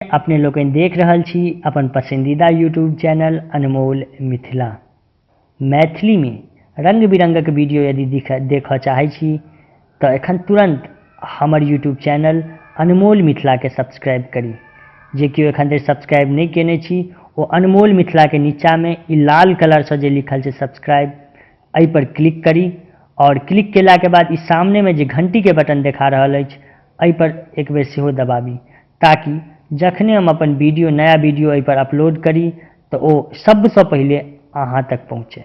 अपने लोकनि देख रहल छी अपन पसंदीदा यूट्यूब चैनल अनमोल मिथिला मैथिली में रंग बिरंगक वीडियो यदि देखऽ चाहै छी तऽ एखन तुरंत हमर यूट्यूब चैनल अनमोल मिथिला के सब्सक्राइब करी जे केओ एखन धरि सब्सक्राइब नहि केने छी ओ अनमोल मिथिला के नीचा में ई लाल कलर से जे लिखल छै सब्सक्राइब एहि पर क्लिक करी और क्लिक केला के बाद ई सामने में जे घंटी के बटन देखा रहल अछि एहि पर एक बेर सेहो दबाबी ताकि जखने हम अपन वीडियो नया वीडियो एहि पर अपलोड करी तऽ ओ सबसँ पहिले अहाँ तक पहुँचे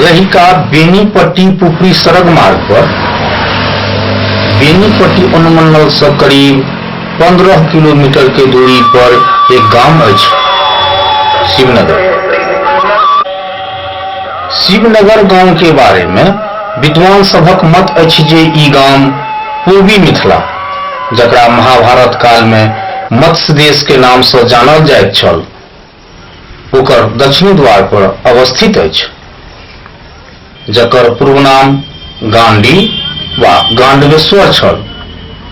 रहिका बेनीपट्टी-पुपरी सड़क मार्ग पर बेनीपट्टी अनुमंडल से करीब 15 किलोमीटर के दूरी पर एक गांव अछि शिवनगर शिवनगर गांव के बारे में विद्वान सभक मत अछि जे ई गांव पूर्वी मिथिला जकरा महाभारत काल में मत्स्य देश के नाम से जानल जाइत छल ओकर दक्षिणी द्वार पर अवस्थित अछि जकर पूर्व नाम गांडी वा गांडवेश्वर छल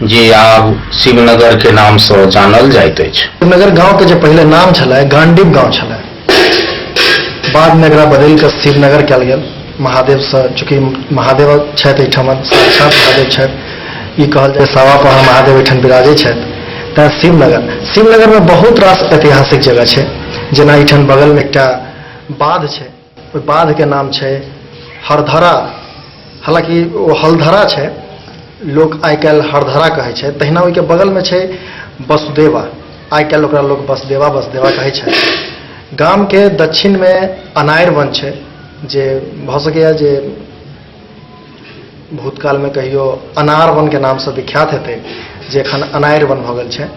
जे आब शिवनगर के नाम से जानल जाइत अछि शिवनगर गांव के जे पहले नाम छलै गांडीव गांव छलै बाद में एकरा बदलि के शिवनगर कयल गेल महादेवसँ चूँकि महादेव छथि एहिठाम साक्षात महादेव छथि ई कहल जाय सावा पहाड़ महादेव एहिठाम विराजै छथि तैँ शिवनगर शिवनगरमे बहुत रास ऐतिहासिक जगह छै जेना एहिठाम बगलमे एकटा बाध छै ओहि बाधके नाम छै हरधरा हालांकि ओ हलधरा छै लोक आइ काल्हि हरधरा कहै छै तहिना ओहिके बगलमे छै वसुदेवा आइ काल्हि ओकरा लोक वसुदेवा वसुदेवा कहै छै गामके दक्षिणमे अनारि वन छै जे भऽ सकैए जे भूतकालमे कहियो अनार वनके नामसँ विख्यात हेतै जे एखन अनारि वन भऽ गेल छै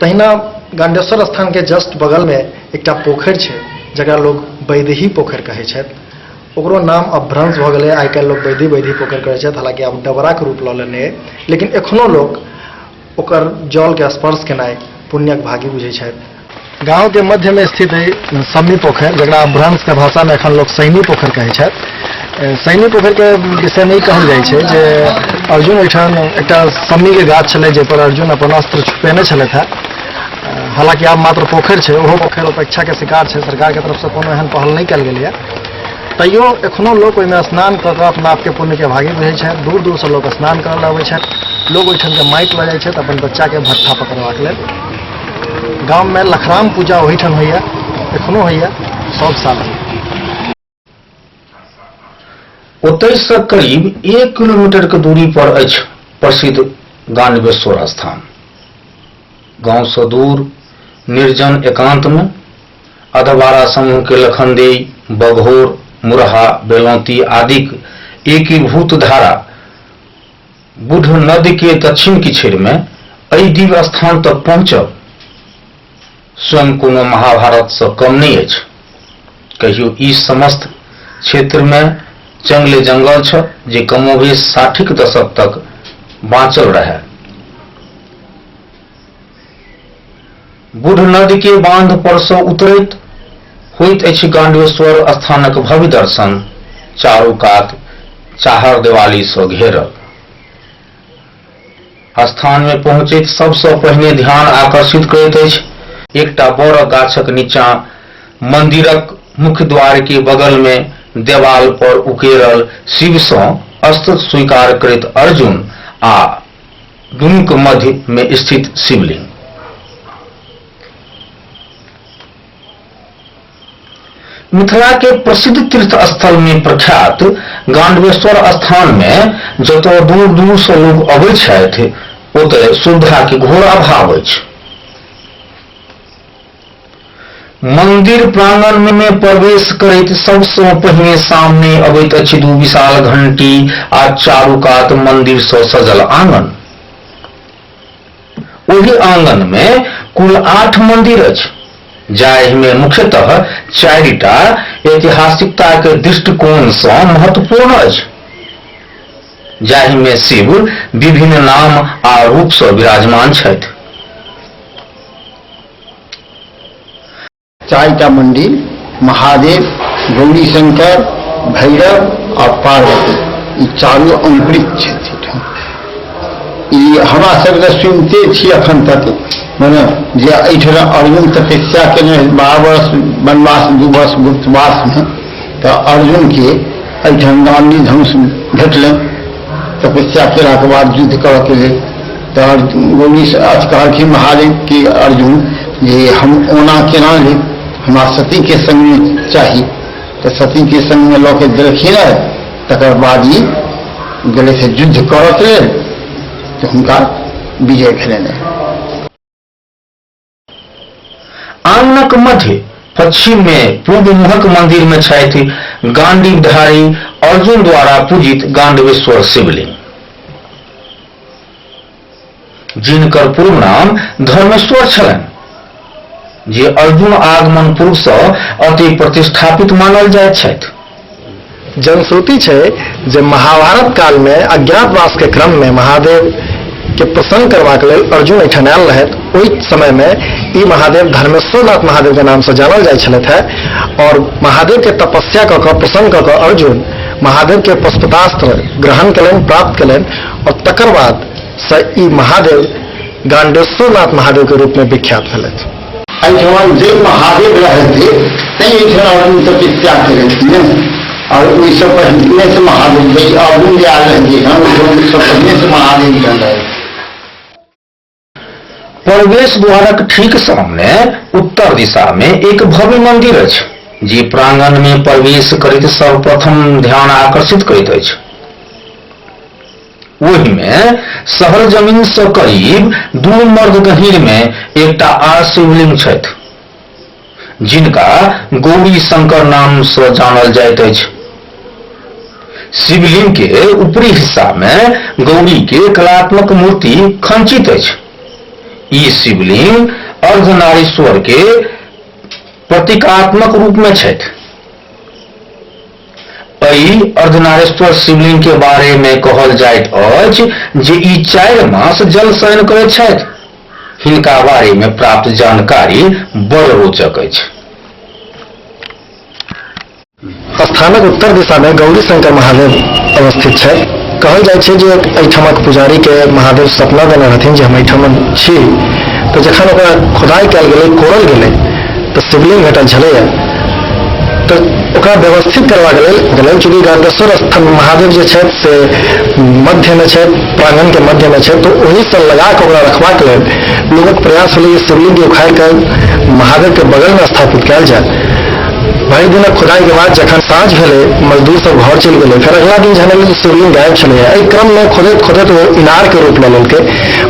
तहिना गाण्डेश्वर स्थानके जस्ट बगलमे एकटा पोखरि छै जकरा लोक बैदेही पोखरि कहै छथि ओकरो नाम अब भ्रंश भऽ गेलै आइ काल्हि लोक बैदी बैदी पोखरि कहै छथि हालाँकि आब डबराके रूप लऽ लेने अइ लेकिन एखनो लोक ओकर जलके स्पर्श केनाइ पुण्यक भागी बुझै छथि गांव के मध्य में स्थित है सम्मी पोखर जरा भ्रंश के भाषा में अखन लोग सैनी पोखर कहे छे सैनी पोखर के विषय में कहल जाए छे जे अर्जुन ओठान एक सम्मी के गाछ छे जे पर अर्जुन अपन अस्त्र छुपेने छे था हालांकि आब मात्र पोखर छे ओहो पोखर अपेक्षा के शिकार छे सरकार के तरफ से कोनो एहन पहल नहीं कल गई है तैयो एखनो लोक ओहिमे स्नान कऽ कऽ अपना आपके पुण्यके भागी बुझै छथि दूर दूरसँ लोक स्नान करय लए अबै छथि लोक ओहिठामके माटि लऽ जाइ छथि अपन बच्चाके भट्ठा पकड़बाक लेल गाममे लखराम पूजा ओहिठाम होइए एखनो होइए सभ साल होइए ओतहिसँ करीब एक किलोमीटरके दूरी पर अछि प्रसिद्ध गानवेश्वर स्थान गांव से दूर निर्जन एकांत में अधवारा समूह के लखनदेइ, बघौर, मुरहा, बेलौती आदिक एकीभूत धारा बुढ नद के दक्षिण किछेर मे एहि दिव्य स्थान तक पहुँचब स्वयं कोनो महाभारत सँ कम नहि अछि। कहियो ई समस्त क्षेत्र मे जंगले जंगल छल जे कमोबेश साठिक दशक तक बाँचल रहए। बुढ़ नदी के बांध पर से उतरैत होइत अछि गांडेश्वर स्थानक भव्य दर्शन चारू कात चाहर देवाली से घेरल स्थान में पहुंचैत सबसे पहिने ध्यान आकर्षित करैत अछि एकटा बड़ गाछक नीचा मंदिरक मुख्य द्वार के बगल में देवाल पर उकेरल शिव से अस्त स्वीकार करैत अर्जुन आ दुनू के मध्य में स्थित शिवलिंग मिथिला के प्रसिद्ध तीर्थ स्थल में प्रख्यात गांडवेश्वर स्थान में जतय दूर दूर से लोग अबै छथि ओतय सुविधा के घोर अभाव अछि मन्दिर प्राङ्गणमे प्रवेश करैत सबसँ पहिने सामने अबैत अछि दू विशाल घण्टी आ चारू कात मन्दिरसँ सजल आँगन ओहि आँगनमे कुल आठ मन्दिर अछि जाहिमे मुख्यतः चारिटा ऐतिहासिकताक दृष्टिकोणसँ महत्वपूर्ण अछि जाहिमे शिव विभिन्न नाम आ रूपसँ विराजमान छथि चारिटा मंदिर महादेव गौरी शंकर भैरव आ पार्वती ई चारू अमृत छथिन ई हमरा सबके सुनते छी अखन तक मने जे एहिठाम अर्जुन तपस्या केने बारह वर्ष वनवास दू वर्ष गुप्तवासमे तऽ अर्जुनके एहिठाम गांधी धनुष भेटलनि तपस्या केलाके बाद युद्ध करऽके लेल तहन गौरीसँ अथ कहलखिन महादेव कि अर्जुन जे हम ओना केना ली हमरा सतीके सङ्गमे चाही तऽ सतीके सङ्गमे लऽ के देलखिन तकर बाद ई गेलै से युद्ध करऽके लेल तऽ हुनका विजय भेलनि आंगनक मध्य पश्चिम मे पूर्व मुहक मंदिर मे छथि गांडीवधारी अर्जुन द्वारा पूजित गांडवेश्वर शिवलिंग जिनकर पूर्व नाम धर्मेश्वर छलनि जे अर्जुन आगमन पूर्वसँ अति प्रतिष्ठापित मानल जाइत छथि जनश्रुति छै जे महाभारत काल में अज्ञातवास के क्रम में महादेव के प्रसन्न करबाक लेल अर्जुन एहिठाम आयल रहथि ओहि समय में ई महादेव धर्मेश्वरनाथ महादेव के नाम से जानल जाइ छलथि है और महादेव के तपस्या कऽ कऽ प्रसन्न कऽ कऽ अर्जुन महादेव के पशुपतास्त्र ग्रहण कयलनि प्राप्त कयलनि और तकर बाद से ई महादेव गांडेश्वरनाथ महादेव के रूप में विख्यात भेलथि एहिठाम जे महादेव रहथि तैं एहिठाम आदमी सबके त्याग करथि ने आओर ओहिसँ पहिने से महादेव छै अवगुण जे आयल रहथि एहिठाम ओहिसँ पहिने से महादेव एहिठाम रहथि प्रवेश द्वारक ठीक सामने उत्तर दिशा में एक भव्य मंदिर अछि जे प्रांगण में प्रवेश करैत सर्वप्रथम ध्यान आकर्षित करैत अछि ओहि मे शहर जमीन सँ करीब दू मर्द गहींर मे एकटा आर शिवलिंग छथि। जिनका गौरी शंकर नाम सँ जानल जाइत अछि। शिवलिंग के ऊपरी हिस्सा मे गौरी के कलात्मक मूर्ति खंचित अछि। ई शिवलिंग अर्धनारीश्वर के प्रतीकात्मक रूप मे छथि। अइ अर्धनारेश्वर शिवलिंग के बारे मे कहल जाइत अछि जे ई चारि मास जल शयन करैत छथि। हिनका बारे मे प्राप्त जानकारी बड़ रोचक अछि। स्थानक उत्तर दिशा मे गौरी शंकर महादेव अवस्थित छथि। कहल जाइत छै जे अइठामक पुजारी के महादेव सपना देने रहथिन जे हम अइठामन छी। त जखन ओकरा खोदाइ कयल गेलै, कोड़ल गेलै, तऽ शिवलिंग भेटल छलैए तऽ ओकरा व्यवस्थित करबाक लेल गेलनि चूँकि गार्गेश्वर स्थान महादेव जे छथि से मध्यमे छथि प्राङ्गणके मध्यमे छथि तऽ ओहिसँ लगा कऽ ओकरा रखबाक लेल लोकक प्रयास भेलै जे शिवलिंगके उखाड़ि कऽ महादेवके बगलमे स्थापित कयल जाय भरि दिनक खुदाइके बाद जखन साँझ भेलै मजदूर सब घर चलि गेलै फेर अगिला दिन जहन एलै तऽ शिवलिंग गायब छलैए एहि क्रममे खोदैत खोदैत ओ इनारके रूप लऽ लेलकै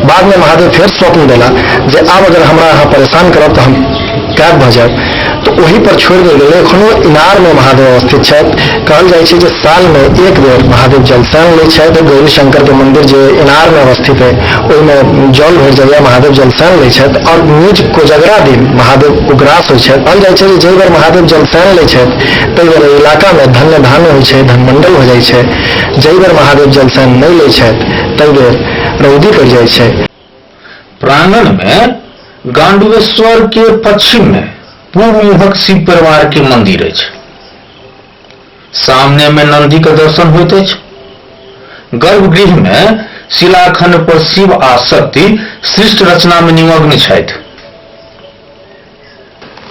बाद मे महादेव फेर स्वप्न देला जे आब अगर हमरा अहाँ परेशान करब तऽ हम कैद भऽ जायब तऽ ओहि पर छोड़ि देल गेलै एखनो इनार मे महादेव अवस्थित छथि कहल जाइ छै जे साल मे एक बेर महादेव जल सैन लै छथि गौरी शंकर के मंदिर जे इनार मे अवस्थित है ओहिमे जल भरि जाइया महादेव जल सैन लै छथि आओर निज कोजगरा दिन महादेव उग्रास होइ छथि कहल जाइ छै जे जाहि बेर महादेव जल सैन लै छथि ताहि बेर एहि इलाका मे धन्य धान्य होइ छै धनमंडल हो जाइ छै जाहि बेर महादेव जल सैन नहि लै छथि ताहि बेर रौदी पड़ि जाइत छै प्रांगणमे गांडवेश्वर के पश्चिम में पूर्व मुहक शिव परिवार के मंदिर अछि सामने में नंदी के दर्शन होइत अछि गर्भगृह में शिलाखंड पर शिव आ शक्ति सृष्ट रचना में निमग्न छथि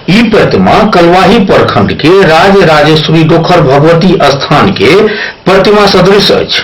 ई प्रतिमा कलवाही प्रखंड के राज राजेश्वरी डोखर भगवती स्थान के प्रतिमा सदृश अछि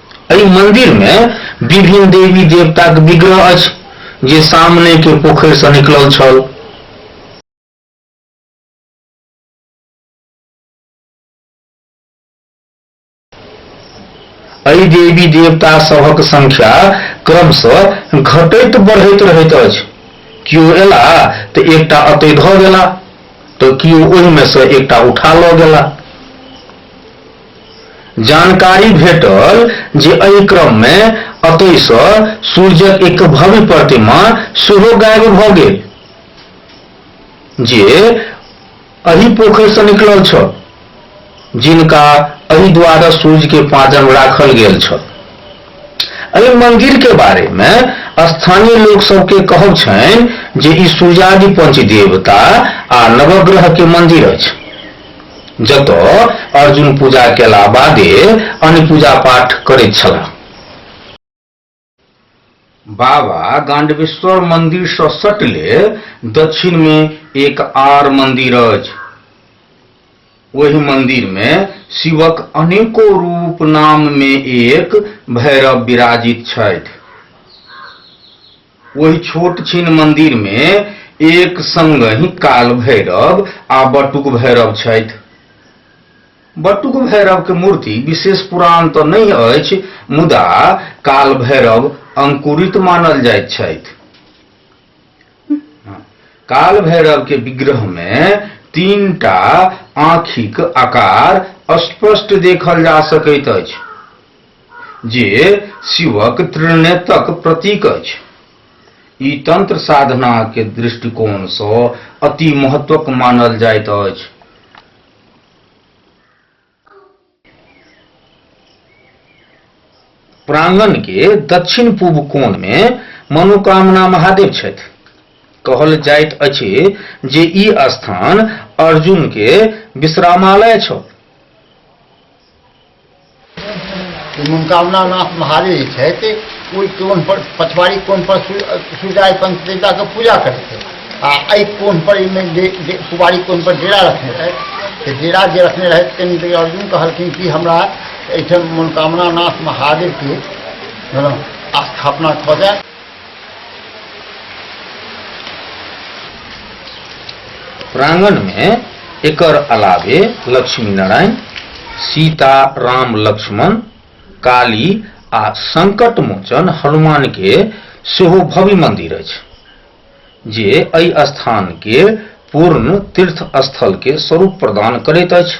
एहि मंदिर मे विभिन्न देवी-देवताक विग्रह अछि जे सामने के पोखरि सँ निकलल छल। एहि देवी-देवता सभक संख्या क्रमशः घटैत-बढ़ैत रहैत अछि। कियो एलाह त एकटा अतै धऽ गेलाह त कियो ओहि मे सँ एकटा उठा लऽ गेलाह। जानकारी भेटल जे एहि क्रम मे अतय स सूर्यक एकटा भव्य प्रतिमा सेहो गायब भ गेल जे एहि पोखरि स निकलल छल जिनका एहि द्वारा सूर्य के पाँजर मे राखल गेल छल। एहि मंदिर के बारे मे स्थानीय लोक सब के कहब छनि जे ई सूर्यादि पंचदेवता आ नवग्रह के मंदिर अछि। जतऽ अर्जुन पूजा केला बादे अन्य पूजा पाठ करैत छलाह बाबा गांडवेश्वर मंदिर से सटले दक्षिण में एक आर मंदिर अछि ओहि मंदिर में शिवक अनेको रूप नाम में एक भैरव विराजित छथि ओहि छोट छीन मंदिर में एक संग ही काल भैरव आ बटुक भैरव छथि बटुक भैरव के मूर्ति विशेष पुरान तऽ नहि अछि मुदा काल भैरव अंकुरित मानल जाइत छथि काल भैरव के विग्रह में तीन टा आँखिक आकार स्पष्ट देखल जा सकैत अछि जे शिवक त्रिनेतक प्रतीक अछि ई तंत्र साधना के दृष्टिकोण से अति महत्वक मानल जाइत अछि प्रांगण के दक्षिण पूर्व कोण मे मनोकामना महादेव छथि कहल जाइत अछि जे ई स्थान अर्जुन के विश्रामालय छल मनोकामना नाथ महादेव जे छथि ओहि कोन पर पछवाड़ी कोन पर सूर्याय पंच देवताके पूजा करै छै आ एहि कोन पर एहिमे कुबारी कोन पर डेरा रखने रहथि तऽ डेरा जे रखने रहथि कनि देर अर्जुन कहलखिन कि हमरा एहिठाम मनोकामना नाथ महादेवके स्थापना कऽ जाय प्रांगण में एकर अलावे लक्ष्मी नारायण सीता राम लक्ष्मण काली आ संकट मोचन हनुमान के सेहो भव्य मंदिर अछि जे एहि स्थान के पूर्ण तीर्थ स्थल के स्वरूप प्रदान करैत अछि